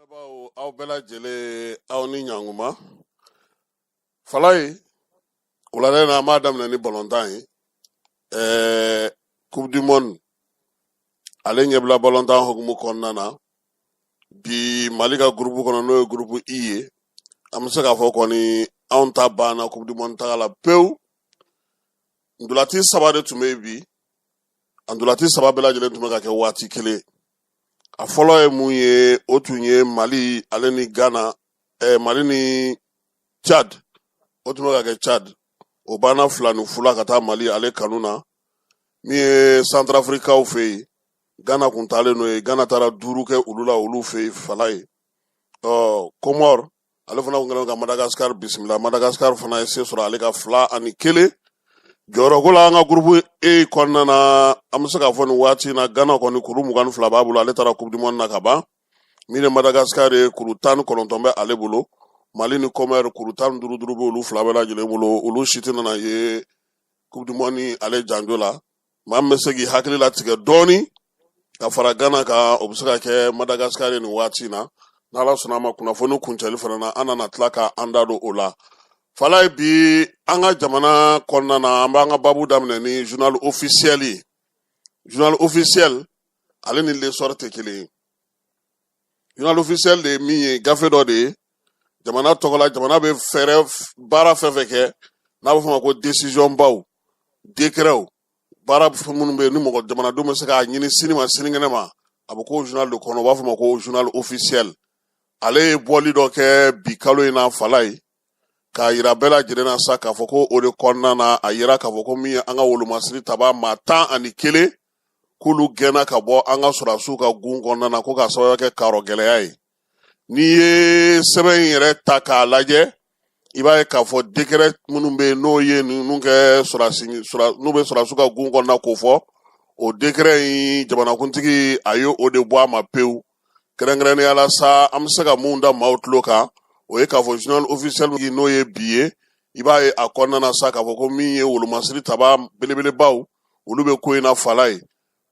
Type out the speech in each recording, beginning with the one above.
Nba aw bɛɛ lajɛlen aw ni ɲankuma falaye wulada in na an b'a daminɛ ni balontan ye ɛɛ coupe du monde ale ɲɛbila balontan hukumu kɔnɔna na bi mali ka gurupu kɔnɔ n'o ye gurupu i ye an bɛ se k'a fɔ kɔni anw ta banna coupe du monde taga la pewu ndolati saba de tun bɛ yen bi a ndolati saba bɛɛ lajɛlen tun bɛ ka kɛ waati kelen a fɔlɔ ye mun ye o tun ye mali ale ni ghana eh, mali ni chad o tun bɛ ka kɛ chad o banna fila ni fu la ka taa mali ale kanu na min ye santarafirikaw fɛ yen ghana kun taalen n'o ye ghana taara duuru kɛ olu la olu fɛ yen falaye ɔ komɔri ale fana kun kɛlen ka madagascar bisimila madagascar fana ye se sɔrɔ ale kan fila ani kelen jɔyɔrɔko la an ka gurupu e kɔnɔna na an bɛ se k'a fɔ nin waati in na ghana kɔni kuru mugan ni fila b'a bolo ale taara coupe du monde na ka ban min ye madagascar ye kuru tan ni kɔnɔntɔn bɛ ale bolo mali ni komɔri kuru tan ni duuru duuru bɛ olu fila bɛɛ lajɛlen bolo olu si tɛna na ye coupe du monde ale janjo la maa min bɛ se k'i hakili latigɛ dɔɔni ka fara gana kan o bɛ se ka kɛ madagasikari ye nin waati na n'ala sɔnna a ma kunnafoni kuncɛli fana na an nana tila ka an da don o la falaye bi an ka jamana kɔnɔna na an b'an ka babu daminɛ ni journal officiel ye journal officiel ale ni l'essor tɛ kelen ye journal officiel de ye min ye gafe dɔ de ye jamana tɔgɔ la jamana bɛ fɛɛrɛ baara fɛn fɛn kɛ n'a bɛ fɔ ma ko desizɔn baw dekrɛw baara minnu bɛ yen ni mɔgɔ jamanadenw bɛ se k'a ɲini sini ma sinikɛnɛ ma a bɛ k'o journal de kɔnɔ u b'a fɔ ma ko journal officiel ale ye bɔli dɔ kɛ bi kalo in na falaye k'a yira bɛɛ lajɛlen na sa k'a fɔ ko o de kɔnɔna na a yira k'a fɔ ko min ye an ka wolomasiri taba maa tan ani kelen k'olu gɛnna ka bɔ an ka sɔrɔdasiw ka gun kɔnɔna na ko k'a sababuya kɛ karɔ gɛlɛya ye n'i ye sɛbɛn in yɛrɛ ta k'a lajɛ i b'a ye k'a fɔ dekrɛ minnu bɛ yen n'o ye ninnu kɛ sɔrɔdasi n'u bɛ sɔrɔdasiw ka gun kɔnɔna k'o fɔ o dekrɛ in jamanakuntigi a ye o de bɔ a ma pewu kɛrɛnkɛrɛnnenya la sa an bɛ se ka mun da maaw tulo kan o ye k'a fɔ journal officiel n'o ye bi ye i b'a ye a kɔnɔna na sa k'a fɔ ko min ye wolomasiri taba belebelebaw olu bɛ ko in na falaye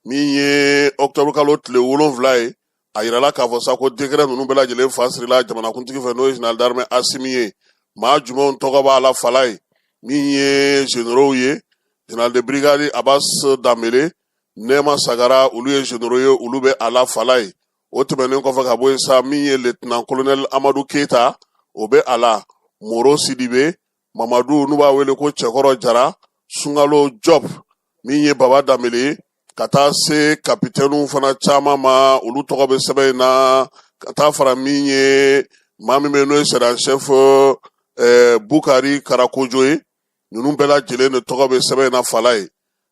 min ye octobre kalo tile wolonwula ye a yirala k'a fɔ sa ko dekrɛ ninnu bɛɛ lajɛlen fa sirila jamanakuntigi fɛ n'o ye général d'armée asimi ye maa jumɛnw tɔgɔ b'a la falaye min ye généraux ye général de brigade abbas danbele nɛma sagara olu ye zenero ye olu bɛ a la falayi o tɛmɛnen kɔfɛ ka bɔ yen sa min ye letnan kolonɛli amadu keyita o bɛ a la moro sidibe mamadu n'u b'a wele ko cɛkɔrɔ jara sunkalo jɔpu min ye baba danbele ka taa se kapitɛniw fana caman ma olu tɔgɔ bɛ sɛbɛn in na ka taa fara min ye maa min bɛ n'o ye sɛrizan sɛfu bukari karakojo ye ninnu bɛɛ lajɛlen de tɔgɔ bɛ sɛbɛn in na falayi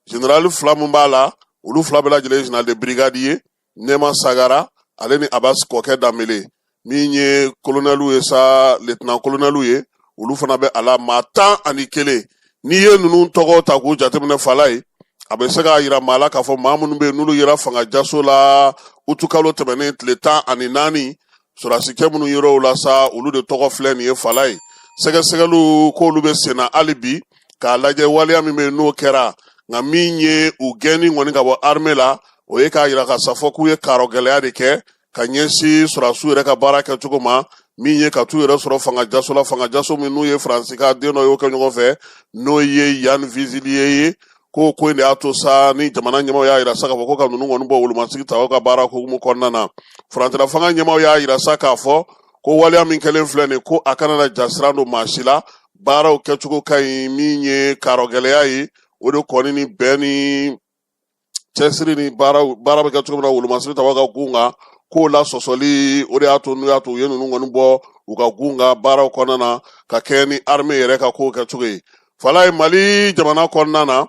generali fila min b'a la olu fila bɛɛ lajɛlen general de brigade ye nɛma sagara ale ni abas kɔkɛ danbele min ye kolonɛliw ye sa letinan kolonɛliw ye olu fana bɛ a la maa tan ani kelen n'i ye ninnu tɔgɔ ta k'u jateminɛ falayi a bɛ se k'a yira maa la k'a fɔ maa minnu bɛ yen n'olu yera fanga jaso la utukalo tɛmɛnen tile tan ani naani sɔrɔdasikɛ minnu yera o la sa olu de tɔgɔ filɛ nin ye falayi sɛgɛsɛgɛliw k'olu bɛ senna hali bi k'a lajɛ waleya min bɛ yen n'o kɛra nka min ye u gɛnni kɔni ka bɔ arme la o ye k'a yira ka sa fɔ k'u ye karɔgɛlɛya de kɛ ka ɲɛsin sɔrɔdasiw yɛrɛ ka baara kɛcogo ma min ye ka t'u yɛrɛ sɔrɔ fanga jaso la fanga jaso min n'u ye faransi ka den dɔ y'o kɛ ɲɔgɔn fɛ n'o ye yan viziliye ye ko ko in de y'a to sa ni jamana ɲɛmaw y'a yira sa k'a fɔ ko ka ninnu kɔni bɔ wolomasiri tabaw ka baara hukumu kɔnɔna na furancɛla fanga ɲɛmaw y'a yira sa k'a fɔ ko waleya min kɛlen filɛ nin ko a kana na jasiran don maa si la baaraw kɛcogo ka ɲi min ye karɔgɛlɛya ye o de kɔni ni bɛn ni cɛsiri ni baara bɛ kɛ cogo min na wolomasiri taba ka gun kan k'o la sɔsɔli o de y'a to n'u y'a to u ye ninnu kɔni bɔ u ka gun kan baaraw kɔnɔna na ka kɛɲɛ ni arme yɛrɛ ka kow kɛcogo ye Falayi Mali jamana kɔnɔna na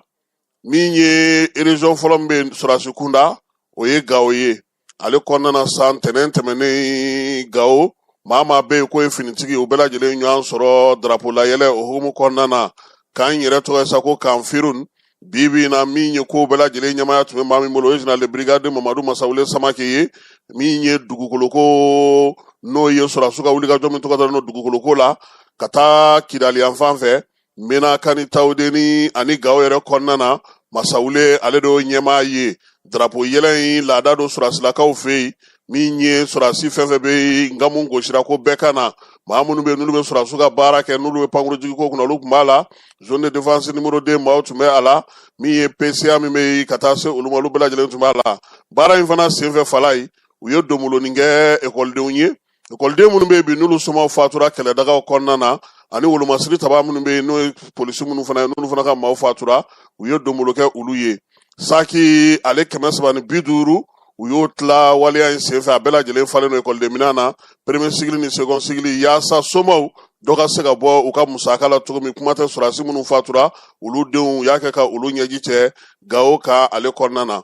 min ye région fɔlɔ min bɛ sɔrɔdasi kunda o ye Gawo ye ale kɔnɔna na sa ntɛnɛn tɛmɛnen Gawo maa maa bɛ yen k'o ye finitigi u bɛɛ lajɛlen ɲɔgɔn sɔrɔ darapo layɛlɛ o hukumu kɔnɔna na kan yɛrɛ tɔgɔ ye sa ko kan Firun bi bi in na min ye ko bɛɛ lajɛlen ɲɛmaaya tun bɛ maa min bolo o ye général de brigade mamadu masawule samake ye min ye dugukoloko n'o ye sɔrɔdasiw ka wulikajɔ min tɔgɔ dalen don dugukoloko la ka taa kidali yanfan fɛ menaka ani tawudeni ani gawo yɛrɛ kɔnɔna na masawule ale de y'o ɲɛmaa ye darapo yɛlɛ in laada don sɔrɔdasilakaw fɛ yen min ye sɔrɔdasi fɛn fɛn bɛ nkamu gosira ko bɛɛ ka na maa minnu bɛ n'olu bɛ sɔrɔdasiw ka baara kɛ n'olu bɛ pankurujigi ko kunna olu tun b'a la zone de défense numéro 2 maaw tun bɛ a la min ye PCA min bɛ ka taa se olu ma olu bɛɛ lajɛlen tun b'a la baara in fana senfɛ falayi u ye donbolonin kɛ ekɔlidenw ye ekɔliden minnu bɛ yen bi n'olu somaw fatura kɛlɛdagaw kɔnɔna na ani wolomasiri taba minnu bɛ yen n'o ye polisi minnu fana ye n'olu fana ka maaw fatura u ye donbolo kɛ olu ye saki ale kɛmɛ saba ni bi duuru u y'o tila waleya in senfɛ a bɛɛ lajɛlen falen don ekɔlidenminɛn na peremiye sikili ni sekɔn sikili yaasa somaw dɔ ka se ka bɔ u ka musaka la cogo min kuma tɛ sɔrɔdasi minnu fatura olu denw u y'a kɛ ka olu ɲɛji cɛ gawo ka ale kɔnɔna na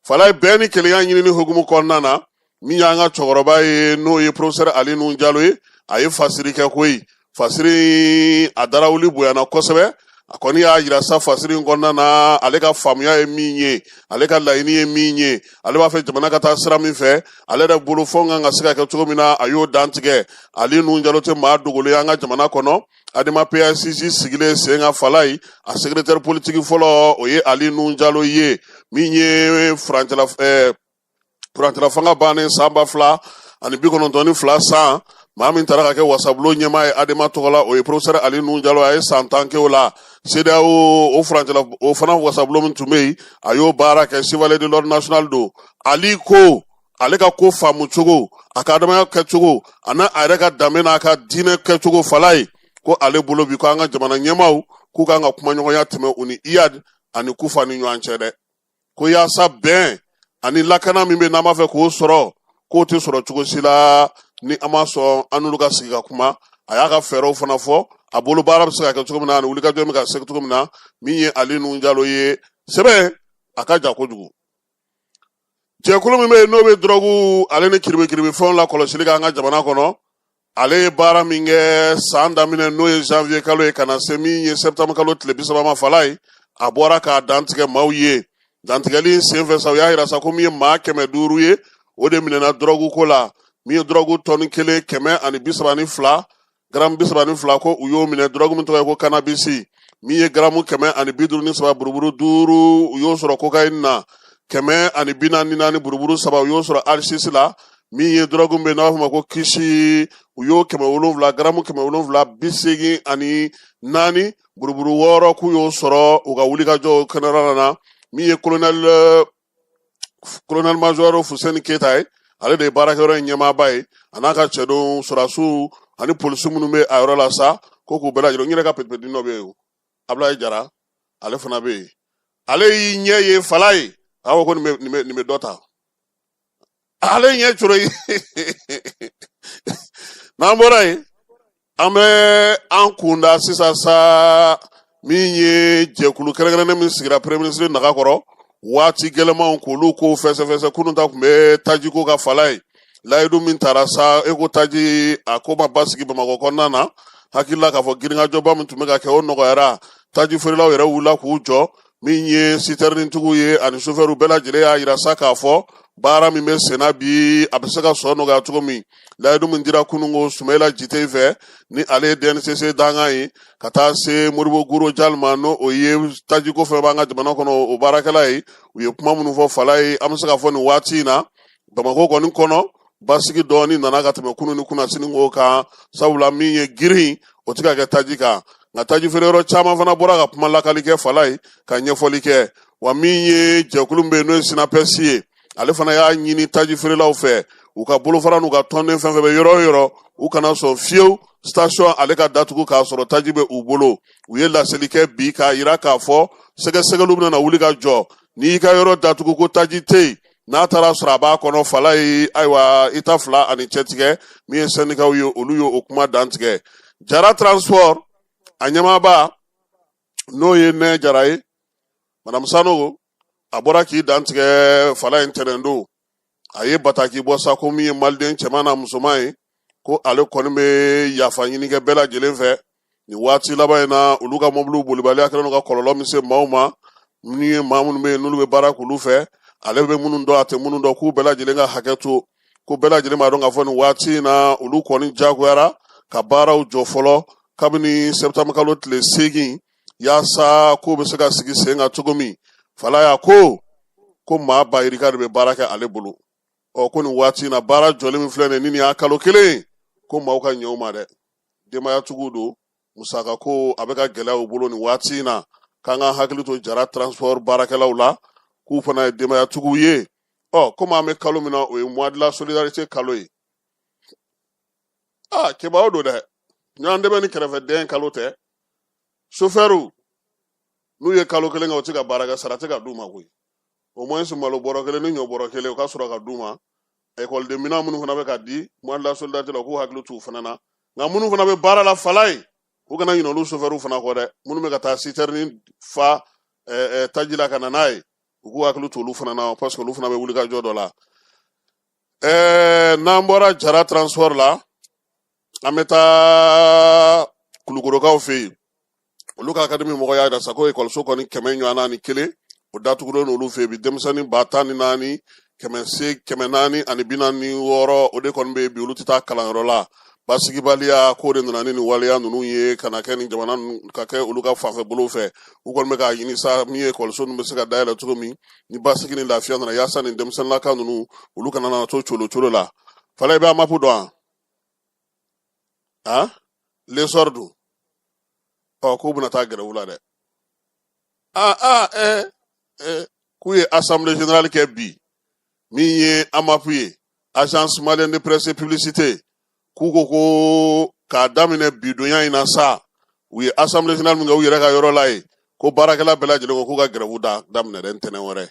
falayi bɛn ni kelenya ɲinini hukumu kɔnɔna na min y'an ka cɛkɔrɔba ye n'o ye profesɛr ali nuhun jalo ye a ye fasiri kɛ koyi fasiri a darawuli bonyana kosɛbɛ a kɔni y'a yira sa fasiri in kɔnɔna na ale ka faamuya ye min ye ale ka laɲini ye min ye ale b'a fɛ jamana ka taa sira min fɛ ale yɛrɛ bolo fɔ kan ka se ka kɛ cogo min na a y'o dantigɛ ali nuhun jalo tɛ maa dogolen y'an ka jamana kɔnɔ adema pasj sigilen sen kan falayi a sekretɛri politiki fɔlɔ o ye ali nuhun jalo ye min ye furancɛla eh, furancɛla fanga bannen san ba fila ani bi kɔnɔntɔn ni fila san maa min taara ka kɛ wasabulo ɲɛmaa ye adema tɔgɔ la o ye profesɛri ali nuhun jalo a ye san tan kɛ o la sedeyawo o furancɛla o fana wasabulo min tun bɛ yen a y'o baara kɛ chevalier de l'ordre national don ali ko ale ka ko faamu cogo a ka adamaya kɛcogo ani a yɛrɛ ka danbe n'a ka diinɛ kɛcogo falayi ko ale bolo bi ko an ka jamana ɲɛmaaw k'u kan ka kumaɲɔgɔnya tɛmɛ u ni iyad ani kufa ni ɲɔgɔn cɛ dɛ ko yaasa bɛn ani lakana min bɛ n'an b'a fɛ k'o sɔrɔ k'o tɛ sɔrɔ cogo si la ni an ma sɔn an n'olu ka sigi ka kuma a y'a ka fɛɛrɛw fana fɔ a bolo baara bɛ se ka kɛ cogo min na ani wulikajɔ bɛ ka se cogo min na min ye ali nuhun jalo ye sɛbɛn a ka jan kojugu jɛkulu min bɛ yen n'o bɛ dɔrɔgu ale ni kiribikiribifɛnw la kɔlɔsili k'an ka jamana kɔnɔ ale ye baara min kɛ san daminɛ n'o ye janvier kalo ye ka na se min ye septembre kalo tile bi saba ma falayi a bɔra k'a dantigɛ maaw ye dantigɛli in senfɛ sa u y'a yira sa ko min ye maa kɛmɛ duuru ye o de minɛna dɔrɔgu ko la min ye dɔrɔgu tɔni kelen kɛmɛ ani bi saba ni fila garamu bi saba ni fila ko u y'o minɛ dɔrɔgu min tɔgɔ ye ko kanabisi min ye garamu kɛmɛ ani bi duuru ni saba buruburu duuru u y'o sɔrɔ kokayini na kɛmɛ ani bi naani ni naani buruburu saba u y'o sɔrɔ asisi la min ye dɔrɔgu min bɛ n'a b'a fɔ ma ko kisi u y'o kɛmɛ wolonwula garamu kɛmɛ wolonwula bi seegin ani naani buruburu wɔɔrɔ k'u y'o sɔrɔ u ka wulikajɔw kɛnɛrɛla na min ye kolonɛl kolonɛl majɔri fuseni keyita ye ale de ye baarakɛyɔrɔ in ɲɛmaaba ye a n'a ka cɛdenw sɔrɔdasiw ani polisi minnu bɛ a yɔrɔ la sa ko k'u bɛɛ lajɛlen n yɛrɛ ka petipetini dɔ bɛ yen o abulayi jara ale fana bɛ yen ale y'i ɲɛ ye falayi a ko ko nin bɛ nin bɛ nin bɛ dɔ ta ale ɲɛ coro ye n'an bɔra yen an bɛ an kunda sisan sa min ye jɛkulu kɛrɛnkɛrɛnnen min sigira peremiye minisiri naga kɔrɔ waati gɛlɛmanw k'olu kow fɛsɛfɛsɛ kunun ta tun bɛ tajiko kan falayi layidu min tara sa e ko taji a ko ma basigi bamakɔ kɔnɔna na hakilila k'a fɔ girinkajɔba min tun bɛ ka kɛ o nɔgɔyara taji feerelaw yɛrɛ wulila k'u jɔ min ye sitɛrintigiw ye ani sofɛriw bɛɛ lajɛlen y'a jira sa k'a fɔ baara min bɛ senna bi a bɛ se ka sɔrɔ nɔgɔya cogo min layidu min dira kunun ko sumayila jite fɛ ni ale ye DNCC dankan ye ka taa se modibo guro jali ma n'o o ye tajiko fɛn b'an ka jamana kɔnɔ o baarakɛla ye u ye kuma minnu fɔ falayi an bɛ se ka fɔ nin waati in na bamakɔ kɔni kɔnɔ basigi dɔɔni nana ka tɛmɛ kunun ni kunasini ko kan sabula min ye girin o tɛ ka kɛ taji kan nka taji feere yɔrɔ caman fana bɔra ka kuma lakali kɛ falayi ka ɲɛfɔli kɛ wa min ye jɛkulu bɛ yen n'o ye sinapɛsi ye ale fana y'a ɲini taji feerelaw fɛ u ka bolofara n'u ka tɔnden fɛn fɛn bɛ yɔrɔ o yɔrɔ u kana sɔn fiyewu station ale ka datugu k'a sɔrɔ taji bɛ u bolo u ye laseli kɛ bi k'a jira k'a fɔ sɛgɛsɛgɛliw bɛna wuli ka jɔ n'i y'i ka yɔrɔ datugu ko taji tɛ yen n'a taara sɔrɔ a b'a kɔnɔ falayi ayiwa i ta fila ani cɛtigɛ min ye sɛndikaw ye olu ye o kuma dantigɛ jara transport a ɲɛmaaba n'o ye nɛ jara ye madamu sanogo a bɔra k'i dantigɛ falayi tɛnɛndon a ye bataki bɔ sa ko min ye maliden cɛman n'a musoman ye ko ale kɔni bɛ yafa ɲini kɛ bɛɛ lajɛlen fɛ nin waati laban in na olu ka mɔbiliw bolibaliya kɛlen don ka kɔlɔlɔ min se maaw ma min ye maa minnu bɛ yen n'olu bɛ baara k'olu fɛ ale bɛ minnu dɔn a tɛ minnu dɔn k'u bɛɛ lajɛlen ka hakɛ to ko bɛɛ lajɛlen b'a dɔn k'a fɔ nin waati in na olu kɔni jagoyara ka baaraw jɔ fɔlɔ kabini septembre kalo tile seegin yaasa k'o bɛ se ka sigi sen kan cogo min falayi a ko ko maa ba yirika de bɛ baara kɛ ale bolo ɔ ko nin waati in na baara jɔlen min filɛ nin ye ni nin y'a kalo kelen ko maaw ka ɲɛ u ma dɛ denbayatigiw don musaka ko a bɛ ka gɛlɛya u bolo nin waati in na k'an ka hakili to jara transport baarakɛlaw la k'u fana ye denbayatigiw ye ɔ komi an bɛ kalo min na o ye mois de la solidarité kalo ye aa kɛbaaw don dɛ ɲɔgɔn dɛmɛ ni kɛrɛfɛdɛn kalo tɛ sofɛriw n'u ye kalo kelen kɛ u tɛ ka baara kɛ sara tɛ ka d'u ma koyi au moins malo bɔrɔ kelen ni ɲɔ bɔrɔ kelen o ka sɔrɔ ka d'u ma ekɔliden minɛn minnu fana bɛ ka di mois de la solidarité la u k'u hakili t'u fana na nka minnu fana bɛ baara la falayi u kana ɲinɛ olu sofɛriw fana kɔ dɛ minnu bɛ ka taa sitɛrini fa taji la ka na n'a ye u k'u hakili t'olu fana na parce que olu fana bɛ wulikajɔ dɔ la n'an bɔra jara transport la an bɛ taa kulukorokaw fɛ yen olu ka akademi mɔgɔ y'a jira sa ko ekɔliso kɔni kɛmɛ ni bi naani ni kelen o datugulen n'olu fɛ yen bi denmisɛnnin ba tan ni naani kɛmɛ se kɛmɛ naani ani bi naani wɔɔrɔ o de kɔni bɛ yen bi olu tɛ taa kalanyɔrɔ la basigibaliya ko de nana ni nin waleya ninnu ye ka na kɛ nin jamana ka kɛ olu ka fanfɛ bolo fɛ u kɔni bɛ k'a ɲini sa min ye ekɔliso ninnu bɛ se ka dayɛlɛ cogo min ni basigi ni lafiya nana yaasa nin denmisɛnninlaka ninnu olu kana na to colo colo la falayi i bɛ amapu dɔn wa a lesɔri dun ɔ k'u bɛna taa grève la dɛ a a ɛ ɛ k'u ye assemblée générale kɛ bi min ye amapu ye agence malienne de presse et publicité k'u ko ko k'a daminɛ bi donya in na sa u ye assemblée générale min kɛ u yɛrɛ ka yɔrɔ la ye ko baarakɛla bɛɛ lajɛlen ko k'u ka grève da daminɛ dɛ ntɛnɛn wɛrɛ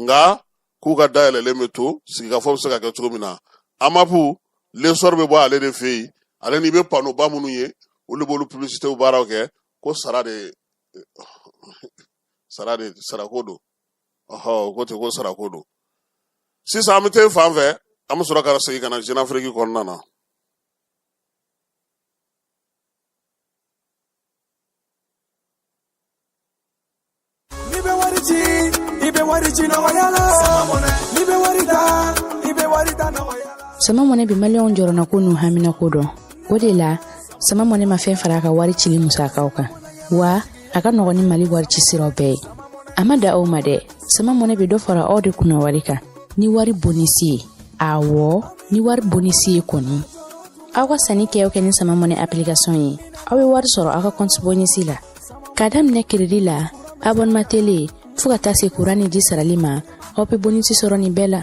nka k'u ka dayɛlɛlen bɛ to sigikafɔ bɛ se ka kɛ cogo min na amapu lesɔri bɛ bɔ ale de fɛ yen ale n'i bɛ panoba minnu ye olu b'olu publicitew baaraw kɛ ko sara de sara de sarako don ɔhɔ ko ten ko sarako don sisan an bɛ taa fan fɛ an bɛ sɔrɔ ka segin ka na jeune afrique kɔnɔna na sama mɔnɛ bi maliyɛnw jɔrɔnako n'u haminako dɔn o de la sama mɔnɛ ma fɛn fara a ka wari cili musakaw kan wa a ka nɔgɔn ni mali wari ci siraw bɛɛ ye a ma dan o ma dɛ sama mɔnɛ bɛ dɔ fara aw de kunna wari kan ni wari bonisi ye awɔ ni wari bonisi ye kɔni aw ka sanni kɛ o kɛ ni sama mɔnɛ application ye aw bɛ wari sɔrɔ aw ka kɔnti bonisi la ka daminɛ crédit la abonnement télé fɔɔ ka taa se kuran ni ji sarali ma aw be bonisi sɔrɔ nin bɛɛ la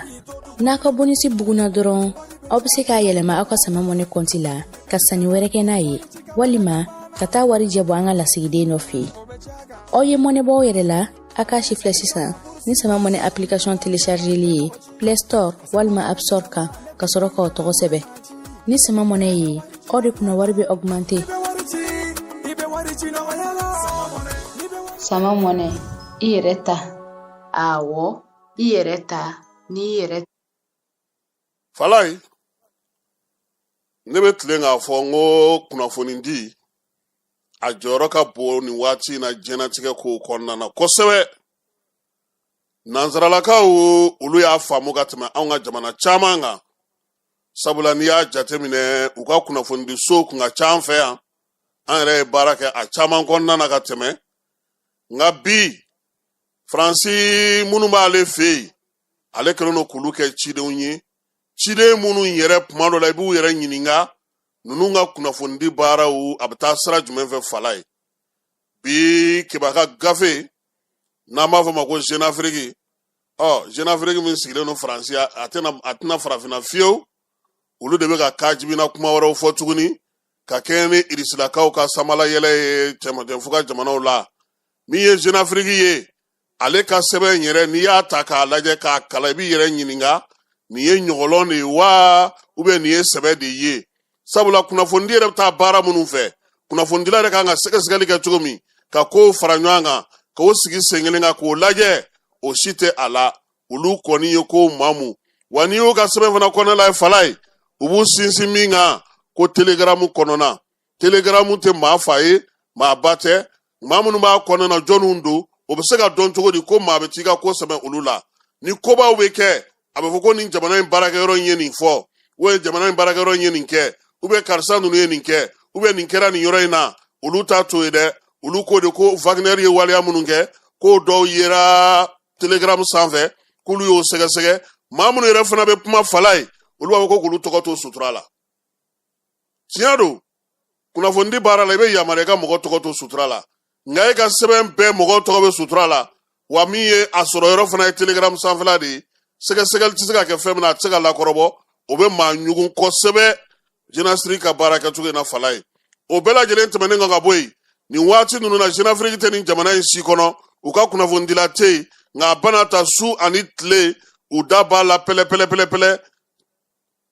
n'aw ka bonisi buguna dɔrɔn aw be se k'a yɛlɛma aw ka sama mɔnɛ kɔnti la ka sanni wɛrɛ kɛ n'a ye walima ka taa warijɛ bɔ an ka lasigiden dɔ fɛ aw ye mɔnɛ bɔ aw yɛrɛ la A k'a sifilɛ sisan ni sama mɔnɛ application telechargeli ye play store walima app store kan ka sɔrɔ k'aw tɔgɔ sɛbɛn ni sama mɔnɛ ye aw de kunna wari bɛ augmenter sama mɔnɛ i yɛrɛ ta awɔ i yɛrɛ ta n'i yɛrɛ falayi ne bɛ tilen k'a fɔ n ko kunnafonidi a jɔyɔrɔ ka bon nin waati in na diɲɛnatigɛ kow kɔnɔna na kosɛbɛ nansaralakaw olu y'a faamu ka tɛmɛ anw ka jamana caman kan sabula n'i y'a jateminɛ u ka kunnafonidi so kun ka ca an fɛ yan an yɛrɛ ye baara kɛ a caman kɔnɔna na ka tɛmɛ nka bi faransi minnu b'ale fɛ yen ale kɛlen don k'olu kɛ cidenw ye ciden minnu yɛrɛ tuma dɔ la i b'u yɛrɛ ɲininka ninnu ka kunnafonidi baaraw a bɛ taa sira jumɛn fɛ falayi bi kebaka gafe n'an b'a fɔ ma ko jeune afrique ɔ jeune afrique min sigilen don faransi a tɛna a tɛna farafinna fiyewu olu de bɛ ka kaajibina kuma wɛrɛw fɔ tuguni ka kɛɲɛ ni irisilakaw ka samalayɛlɛ ye cɛmancɛfuga jamanaw la min ye jeune afrique ye ale ka sɛbɛn in yɛrɛ n'i y'a ta k'a lajɛ k'a kalan i b'i yɛrɛ ɲininka nin ye ɲɔgɔlɔn de ye wa ubiyɛn nin ye sɛbɛ de ye sabula kunnafonidi yɛrɛ bɛ taa baara minnu fɛ kunnafonidila yɛrɛ kan ka sɛgɛsɛgɛli kɛ cogo min ka kow fara ɲɔgɔn kan ka o sigi sen kelen kan k'o lajɛ o si tɛ a la olu kɔni ye ko maamu wa n'i y'u ka sɛbɛn fana kɔnɔna la ye fala ye u b'u sinsin min kan ko telegaramu kɔnɔna telegaramu tɛ maa fa ye maa ba tɛ maa minnu b'a kɔnɔna jɔnw don o bɛ se ka dɔn cogo di ko maa bɛ t'i ka ko sɛmɛ olu la ni kobaw bɛ kɛ a bɛ fɔ ko nin jamana in baarakɛyɔrɔ in ye nin fɔ ubiyɛn jamana in baarakɛyɔrɔ in ye nin kɛ ubiyɛn karisa ninnu ye nin kɛ ubiyɛn nin kɛra nin yɔrɔ in na olu ta t'o ye dɛ olu ko de ko wagner ye waleya minnu kɛ k'o dɔw yera telegaramu sanfɛ k'olu y'o sɛgɛsɛgɛ maa minnu yɛrɛ fana bɛ kuma fala ye olu b'a fɔ ko k'olu tɔgɔ to sutura la tiɲɛ don kunnafonidi baara la i bɛ yamaruya ka mɔgɔ tɔgɔ to sutura la nka e ka sɛbɛn bɛɛ mɔgɔ tɔgɔ bɛ sutura la wa min ye a sɔrɔ yɔrɔ fana ye telegram sanfɛla de ye sɛgɛsɛgɛli tɛ se ka kɛ fɛn min na a tɛ se ka lakɔrɔbɔ o bɛ maa ɲugun kosɛbɛ jenafiriki ka baara kɛcogo in na fala ye o bɛɛ lajɛlen tɛmɛnen kɔ ka bɔ yen nin waati ninnu na jenafiriki tɛ nin jamana in si kɔnɔ u ka kunnafonidila tɛ yen nka a bɛɛ n'a ta su ani tile u da b'a la pɛlɛpɛlɛpɛlɛpɛlɛ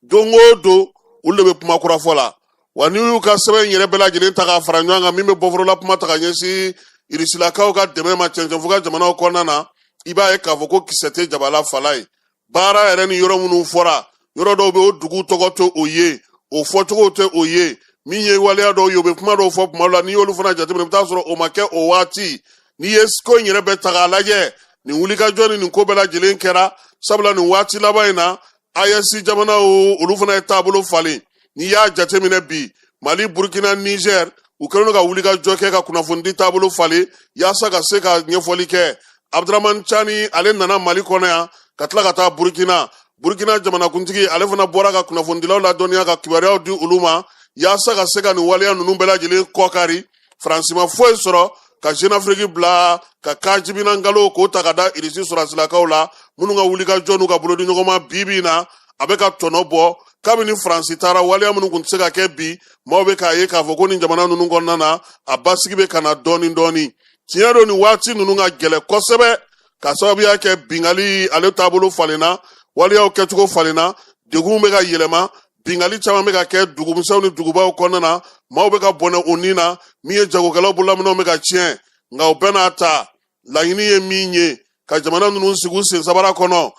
don o don olu de bɛ kuma kura fɔ la wa n'i y'u ka sɛbɛn in yɛrɛ bɛɛ lajɛlen ta k'a fara ɲɔgɔn kan min bɛ bɔforola kuma ta ka ɲɛsin irisilakaw ka dɛmɛ ma cɛncɛnfuga jamanaw kɔnɔna na i b'a ye k'a fɔ ko kisɛ tɛ jaba la fala ye baara yɛrɛ ni yɔrɔ minnu fɔra yɔrɔ dɔw bɛ o dugu tɔgɔ tɛ o ye o fɔcogo tɛ o ye min ye waleya dɔw ye o bɛ kuma dɔw fɔ kuma la n'i y'olu fana jateminɛ i bɛ t'a sɔrɔ o ma kɛ o waati n'i ye ko in yɛrɛ bɛɛ ta k'a lajɛ nin wulikajɔ ni nin ko bɛɛ lajɛlen kɛra sabula nin waati laban in na ayɛsi jamanaw olu fana ye taabolo falen n'i y'a jateminɛ bi mali burkina nizɛr u kɛlen don ka wulikajɔ kɛ ka kunnafonidi taabolo falen yaasa ka se ka ɲɛfɔli kɛ abdramani cani ale nana mali kɔnɔ yan ka tila ka taa burkina burkina jamanakuntigi ale fana bɔra ka kunnafonidilaw ladɔnniya ka kibaruyaw di olu ma yaasa ka se ka nin waleya ninnu bɛɛ lajɛlen kɔkari faransi ma foyi sɔrɔ ka jenafiriki bila ka ka jibina nkalon k'o ta ka da irisi sɔrasilakaw la minnu ka wulikajɔ n'u ka bolodiɲɔgɔnma bi bi in na a bɛ ka tɔnɔ bɔ kabini faransi taara waleya minnu tun tɛ se ka kɛ bi maaw bɛ k'a ye k'a fɔ ko nin jamana ninnu kɔnɔna na a basigi bɛ ka na dɔɔni dɔɔni tiɲɛ don nin waati ninnu ka gɛlɛn kosɛbɛ ka sababuya kɛ bingali ale taabolo falenna waleyaw kɛcogo falenna degun bɛ ka yɛlɛma bingali caman bɛ ka kɛ dugumisɛnw ni dugubaw kɔnɔna na maaw bɛ ka bɔnɛ u ni na min ye jagokɛlaw bololaminɛnw bɛ ka tiɲɛ nka o bɛɛ n'a ta laɲini ye min ye ka jamana ninnu sigi u sen sabara kɔnɔ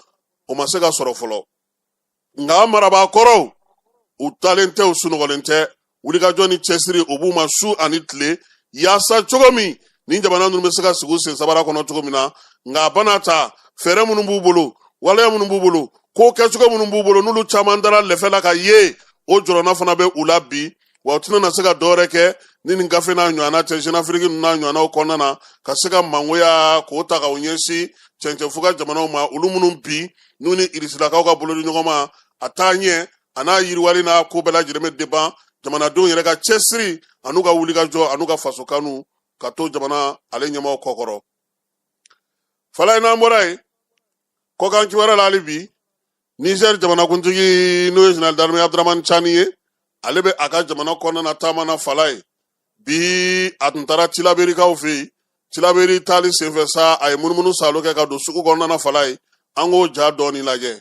o ma se ka sɔrɔ fɔlɔ nka marabaa kɔrɔw u dalen tɛ u sunɔgɔlen tɛ wulikajɔ ni cɛsiri o b'u ma su ani tile yaasa cogo min nin jamana ninnu bɛ se ka sigi sen sabara kɔnɔ cogo min na nka a bana ta fɛɛrɛ minnu b'u bolo waleya minnu b'u bolo ko kɛcogo minnu b'u bolo n'olu caman dara lɛfɛ la ka ye o jɔrɔna fana bɛ u la bi wa u tɛna na se ka dɔwɛrɛ kɛ ni nin gafe n'a ɲɔgɔnna tɛ zenafiriki ninnu n'a ɲɔgɔnnaw kɔnɔna na ka se ka mangoya k'o ta ka o ɲɛsin cɛncɛnfuga jamanaw ma olu minnu bi n'u ni irisilakaw ka bolodi ɲɔgɔn ma a taaɲɛ an'a yiriwali n'a ko bɛɛ lajɛlen bɛ deban jamanadenw yɛrɛ ka cɛsiri an'u ka wulikajɔ an'u ka faso kanu ka to jamana ale ɲɛmaaw kɔkɔrɔ fala ye n'an bɔra yen kɔkan kibaruya la hali bi nizɛri jamanakuntigi n'o ye jeneral darme abdramani cani ye ale bɛ a ka jamana kɔnɔna na taama na fala ye bi a tun taara tilaberikaw fɛ yen tilaberi taali senfɛ sa a ye munumunu saalo kɛ ka don sugu kɔnɔna na fala ye an k'o ja dɔɔni lajɛ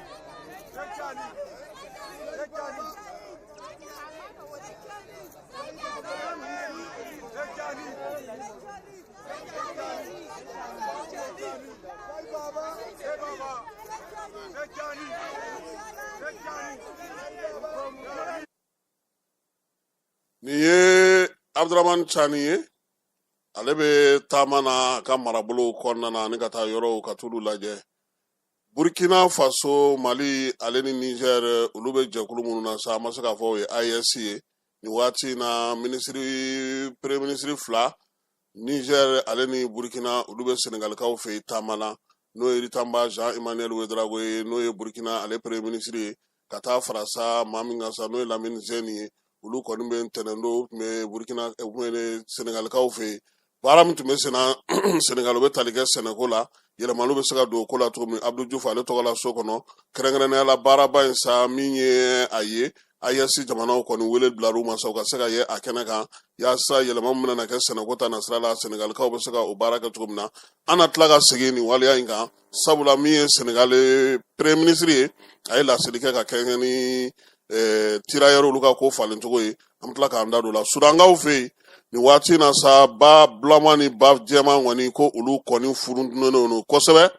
Nin ye Abudaramani Cani ye ale bɛ taama na a ka marabolo kɔnɔna na ani ka taa yɔrɔw ka t'olu lajɛ Burkina Faso, Mali ale ni Niger olu bɛ jɛkulu minnu na sa an ma se k'a fɔ o ye AES ye nin waati in na minisiri premier minisiri fila Niger ale ni Burkina olu bɛ Senegalikaw fɛ yen taama na n'o ye Rimtalba Jean Emmanuel Ouedraogo ye n'o ye Burkina ale premier minisiri ye ka taa fara sa maa min kan sa n'o ye lamini zeni ye olu kɔni bi ntɛnɛn don tun bɛ burukina eh, tun bɛ senegalikaw fɛ yen baara min tun bɛ senna senegal bɛ tali kɛ sɛnɛko la yɛlɛmaliw bɛ se ka don o ko la cogo min abdu jufu ale tɔgɔ la so kɔnɔ kɛrɛnkɛrɛnnenya la baaraba in sa min ye a ye AES jamanaw kɔni wele bilara u ma sa u ka se ka ye a kɛnɛ kan yaasa yɛlɛma min bɛna kɛ sɛnɛko ta nasira la senegalikaw bɛ se ka o baara kɛ cogo min na an na tila ka segin nin waleya in kan sabula min ye senegali premier ministre ye a ye laseli kɛ ka kɛɲɛ ni eh, tirailleurs olu ka ko falen cogo ye an bɛ tila k'an da don la sudankaw fɛ yen nin waati na sa ba bulama ni ba jɛman kɔni ko olu kɔni furuntinen don kosɛbɛ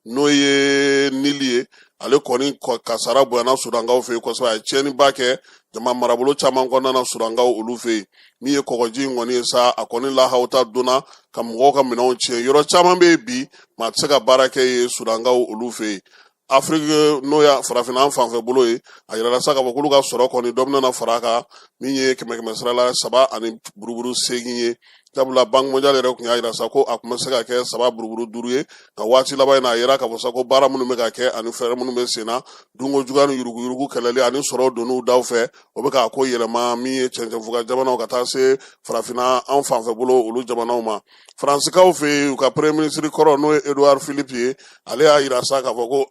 n'o ye nili ye ale kɔni kasara bonyana sudankaw fɛ yen kosɛbɛ a ye tiɲɛniba kɛ jama marabolo caman kɔnɔna na sudankaw olu fɛ yen min ye kɔgɔji in kɔni ye sa a kɔni lahaw ta donna ka mɔgɔw ka minɛnw tiɲɛ yɔrɔ caman bɛ yen bi maa tɛ se ka baara kɛ yen sudankaw olu fɛ yen afiriki n'o ye farafinna an fanfɛ bolo ye a yirala sa k'a fɔ k'olu ka sɔrɔ kɔni dɔ bɛna na fara a kan min ye kɛmɛ kɛmɛ sara la saba ani buruburu seegin ye sabula banki mɔndiyali yɛrɛ tun y'a yira sa ko a tun bɛ se ka kɛ saba buruburu duuru ye nka waati laban in na a yira k'a fɔ sa ko baara minnu bɛ ka kɛ ani fɛɛrɛ minnu bɛ sen na dunko juguya ni yuruguyurugu kɛlɛli ani sɔrɔ donniw daw fɛ o bɛ k'a ko yɛlɛma min ye cɛncɛnfuga jamanaw ka taa se farafinna an fanfɛ bolo olu jamanaw ma faransikaw fɛ yen u ka premier ministre kɔrɔ n'o ye edouard philippe ye ale y'a yira sa k'a fɔ ko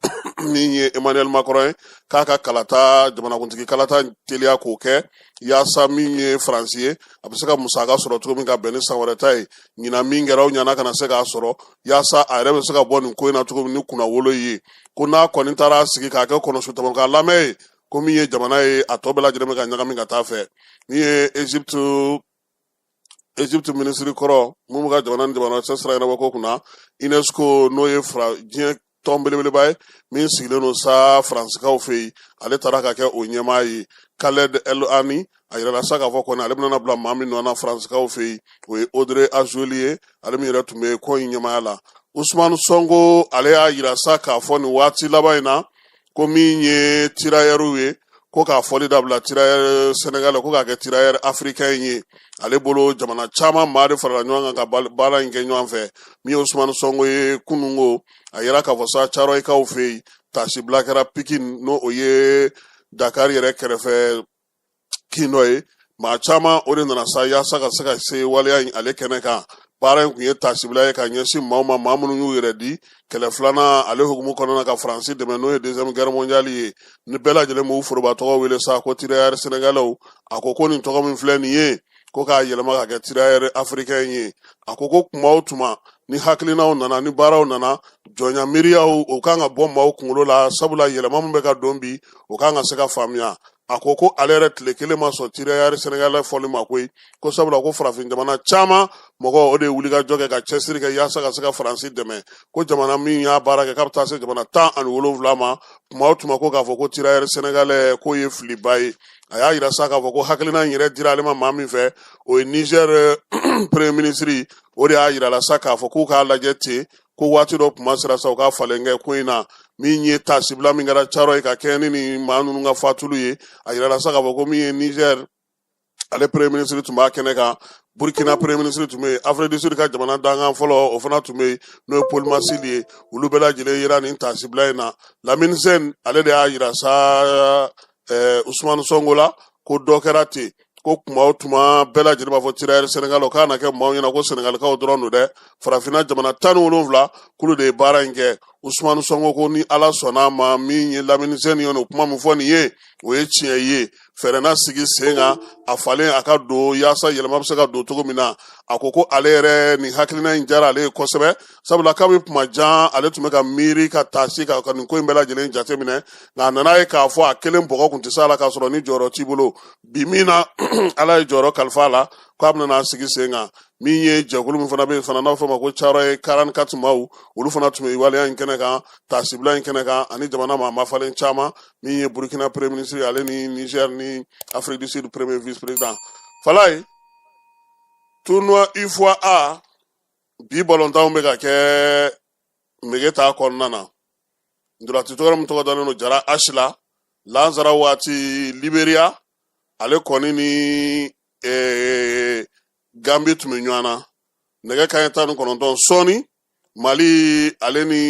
min ye emmanuel macron ye k'a ka kalata jamanakuntigi kalata teliya k'o kɛ yaasa min ye faransi ye a bɛ se ka musaka sɔrɔ cogo min ka bɛn ni san wɛrɛ ta ye ɲinan min kɛra o ɲana kana se k'a sɔrɔ yaasa a yɛrɛ bɛ se ka bɔ nin ko in na cogo min ni kunnawolo ye ko n'a kɔni taara sigi k'a kɛ kɔnɔsu tamakan lamɛn ye ko min ye jamana ye a tɔ bɛɛ lajɛlen bɛ ka ɲagami ka taa a fɛ min ye egypte minisiri kɔrɔ min bɛ ka jamana ni jamana cɛ sira ɲɛnabɔ ko kunna unesco n'o ye fara diɲɛ tɔn belebeleba ye min sigilen don sa faransikaw fɛ yen ale taara ka kɛ o ɲɛmaa ye kaled el ani a yirala sa k'a fɔ kɔni ale bɛna bila maa min nɔ na faransikaw fɛ yen o ye odre azoli ye ale min yɛrɛ tun bɛ ko in ɲɛmaaya la usumani sɔnko ale y'a yira sa k'a fɔ nin waati laban in na ko min ye tirayɛriw ye ko k'a fɔli dabila tirayɛri sɛnɛgalɛ ko k'a kɛ tirayɛri afirikɛn ye ale bolo jamana caman maa de farala ɲɔgɔn kan ka baara in kɛ ɲɔgɔn fɛ min ye usumani sɔngo ye kunungo a yira k'a fɔ sa carɔyikaw fɛ yen tasibila kɛra pikin n'o ye dakari yɛrɛ kɛrɛfɛ kin dɔ ye maa caman o de nana sa yaasa ka se ka se waleya in ale kɛnɛ kan baara in tun ye tasibila ye ka ɲɛsin maaw ma maa minnu y'u yɛrɛ di kɛlɛ filanan ale hukumu kɔnɔna ka faransi dɛmɛ n'o ye deuxième guerre mondiale ye ni bɛɛ lajɛlen b'u foroba tɔgɔ wele sa ko tirayɛri sɛnɛgalɛw a ko ko nin tɔgɔ min filɛ nin ye ko k'a yɛlɛma ka kɛ tirayɛri afirikɛn ye a ko ko kuma o tuma ni hakilinaw nana ni baaraw nana jɔnya miiriyaw o kan ka bɔ maaw kunkolo la sabula yɛlɛma min bɛ ka don bi o kan ka se ka faamuya a ko ko ale yɛrɛ tile kelen ma sɔn tirayɛri sɛnɛgalɛ fɔli ma koyi ko sabula ko farafin jamana caman mɔgɔ o de ye wulikajɔ kɛ ka cɛsiri kɛ yaasa ka se ka faransi dɛmɛ ko jamana min y'a baara kɛ k'a bɛ taa se jamana tan ani wolonwula ma tuma o tuma ko k'a fɔ ko tirayɛri sɛnɛgalɛ k'o ye filiba ye a y'a yira sa k'a fɔ ko hakilina in yɛrɛ dira ale ma maa min fɛ o ye nizɛr eh, premier minisiri o de y'a yira a la sa k'a fɔ k'u k'a lajɛ ten ko waati dɔ kuma sera sa u ka falen kɛ ko in na min ye tasibila min kɛra carɔyi ka kɛɲɛ ni nin maa ninnu ka fatuli ye a yirala sa k'a fɔ ko min ye nizɛr ale premier minisiri tun b'a kɛnɛ kan burkina premier minisiri tun bɛ yen afiriki du sud ka jamana dankan fɔlɔ o fana tun bɛ yen n'o ye paul masili ye olu bɛɛ lajɛlen yera nin tasibila in na lamini zɛni ale de y'a yira sa ɛɛ usumani sɔngo la ko dɔ kɛra ten ko kuma o tuma bɛɛ lajɛlen b'a fɔ tirayɛri sɛnɛgalɛ o kana kɛ maaw ɲɛna ko sɛnɛgalikaw dɔrɔn don dɛ farafinna jamana tan ni wolonwula kulu de ye baara in kɛ usumani sɔngo ko ni ala sɔnna a ma min ye lamini zɛni ye o kuma min fɔ nin ye o ye tiɲɛ ye fɛɛrɛ na sigi sen kan a falen a ka don yaasa yɛlɛma bɛ se ka don cogo min na a ko ko ale yɛrɛ nin hakilina in diyara ale ye kosɛbɛ sabula kabini kuma jan ale tun bɛ ka miiri ka taasi ka ka nin ko in bɛɛ lajɛlen jateminɛ nka a nana ye k'a fɔ a kelen bɔgɔ kun tɛ se a la k'a sɔrɔ ni jɔyɔrɔ t'i bolo bi min na ala ye jɔyɔrɔ kalifa a la k'a bɛna sigi sen kan min ye jɛkulu min fana bɛ yen fana n'a fɔ ma ko thiaroye quarante quatre maaw olu fana tun bɛ waleya in kɛnɛ kan taasibila in kɛnɛ kan ani jamana maa mafalen caman min ye burkina premier ministre ale ni niger ni afrique du sud premier vice président falaye tournoi ufoa a bi balontanw bɛ ka kɛ megetan kɔnɔna na ntolatitɔgɔ min tɔgɔ dalen don diarra h la lansara waati liberiya ale kɔni ni ee, gambi tun bɛ ɲɔgɔn na nɛgɛ kanɲɛ tan ni kɔnɔntɔn sɔɔni mali ale ni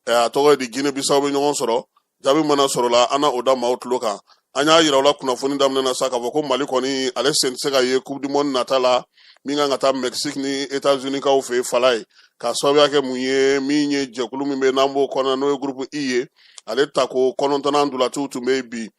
eh, a tɔgɔ ye di guinée bissau bɛ ɲɔgɔn sɔrɔ jaabi mana sɔrɔla an na o da maaw tulo kan an y'a yira aw la kunnafoni daminɛ na sa k'a fɔ ko mali kɔni ale sen tɛ se ka ye coupe du monde nata la min kan ka taa mexique ni états unis kaw fɛ falaye k'a sababuya kɛ mun ye min ye jɛkulu min bɛ n'an b'o kɔnɔ n'o ye groupe i ye ale tako kɔnɔntɔnnan ntolatiw tun bɛ yen bi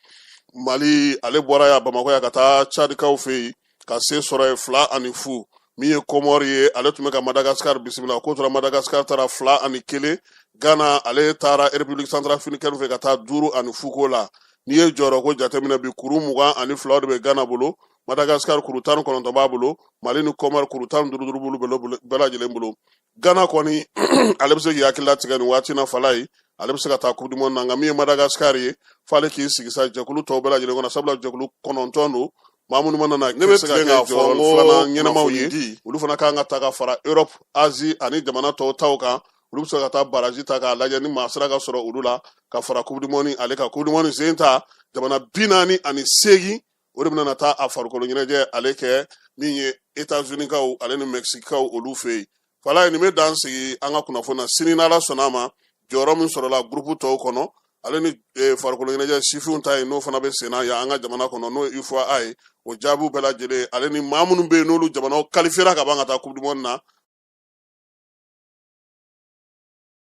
mali ale bɔra yan bamakɔ yan ka taa cadikaw fɛ yen ka se sɔrɔ yen fila ani fu min ye kɔmɔri ye ale tun bɛ ka madagasikari bisimila ko tora madagasikari ta ra fila ani kelen ghana ale taara république centrafricaine fɛ ka taa duuru ani fu k'o la n'i ye jɔyɔrɔ ko jateminɛ bi kuru mugan ani fila de bɛ ghana bolo madagasikari kuru tan ni kɔnɔntɔn b'a bolo mali ni kɔmɔri kuru tan ni duuru duuru b'olu bɛɛ lajɛlen bolo ghana kɔni ale bɛ se k'i hakili latigɛ nin waati na falaye ale bɛ se ka taa coupe du monde na nka min ye madagasikari ye f'ale k'i sigi sa jɛkulu tɔw bɛɛ lajɛlen kɔnɔ sabula jɛkulu kɔnɔntɔn don maa minnu mana na ne bɛ tilen k'a fɔ n ko ɲɛnamaw ye olu fana kan ka taa ka fara europe asie ani jamana tɔw taw kan olu bɛ se ka taa barrage tan k'a lajɛ ni maa sera ka sɔrɔ olu la ka fara coupe du monde ale kan coupe du monde sen ta jamana bi naani ani seegin o de bɛna taa a farikolo ɲɛnajɛ ale kɛ min ye états unis kaw ale ni mexique kaw olu fɛ yen falaye nin bɛ dan sigi an ka kunnafoni na sini n'ala sɔnna a ma jɔyɔrɔ min sɔrɔla gurupu tɔw kɔnɔ ale ni eh, farikolo ɲɛnajɛ sifinw ta ye n'o fana bɛ senna yan an ka jamana kɔnɔ n'o ye ufoa ye o jaabiw bɛɛ lajɛlen ale ni maa minnu bɛ yen n'olu jamanaw qualifiera ka ban ka taa coupe du monde na